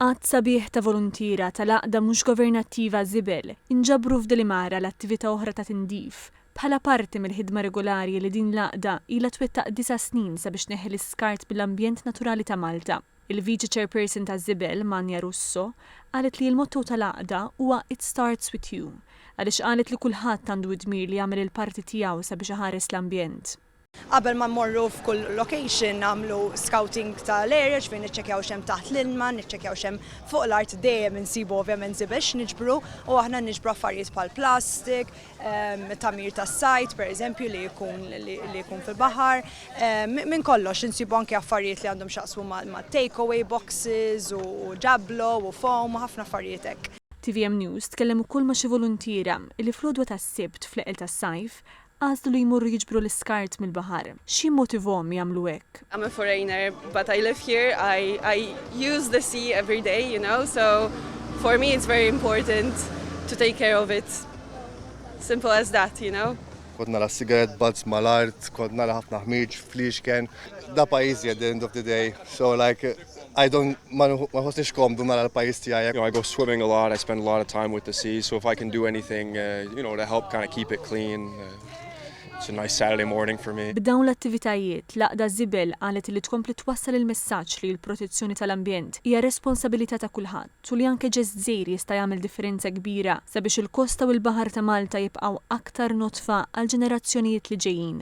Għadd sabiħ ta' voluntiera tal-għaqda mhux governattiva Żibel inġabru f'Delimar għal attività oħra ta' tindif, bħala parti mill-ħidma regolari li din l-għaqda ilha twettaq disa' snin sabiex tneħħi l-iskart mill-ambjent naturali ta' Malta. Il-Viċi Chairperson ta' Żibel, Manja Russo, qalet li l-motto tal-għaqda huwa It Starts With You għaliex qalet li kulħadd għandu d-dmir li jagħmel il-parti tiegħu sabiex iħares l-ambjent. Qabel ma mmorru f'kull location nagħmlu scouting tal-area, ġifieri niċċekkjaw x'hemm taħt l-ilma, niċċekkjaw x'hemm fuq l-art, dejjem insibu ovvjament żibel x'niġbru u aħna niġbru affarijiet bħal plastik, tagħmir tas-sajd pereżempju li jkun li jkun fil-baħar, minn kollox, insibu anke affarijiet li għandhom x'jaqsmu mat-take away boxes u jablo u foam u ħafna affarijiet hekk. Tvm News tkellem ukoll ma' xi voluntiera li fl-għodwa tas-Sibt fl-eqel tas-sajf Għażlu li jmorru jiġbru l-iskart mill-baħar. X'jimmotivhom jagħmlu hekk? I'm a foreigner but I live here, I I use the sea every day you know so for me it's very important to take care of it simple as that you know. Kont nara cigarette butts mal-art, kont nara ħafna ħmieġ fliexken. Da pajjiżi at the end of the day so like I don't, ma nħossniex komdu nara l-pajjiż tiegħi. You know, I go swimming a lot, I spend a lot of time with the sea, so if I can do anything, uh, you know, to help kind of keep it clean, uh, it's a nice Saturday morning for me. B'dawn l-attivitajiet, l-Għaqda Żibel qalet li tkompli twassal il-messaġġ li l-protezzjoni tal-ambjent hija responsabilità ta' kulħadd u li anke ġest żgħir jista' jagħmel differenza kbira sabiex il-kosta u l-baħar ta' Malta jibqgħu aktar nodfa għall-ġenerazzjonijiet li ġejjin.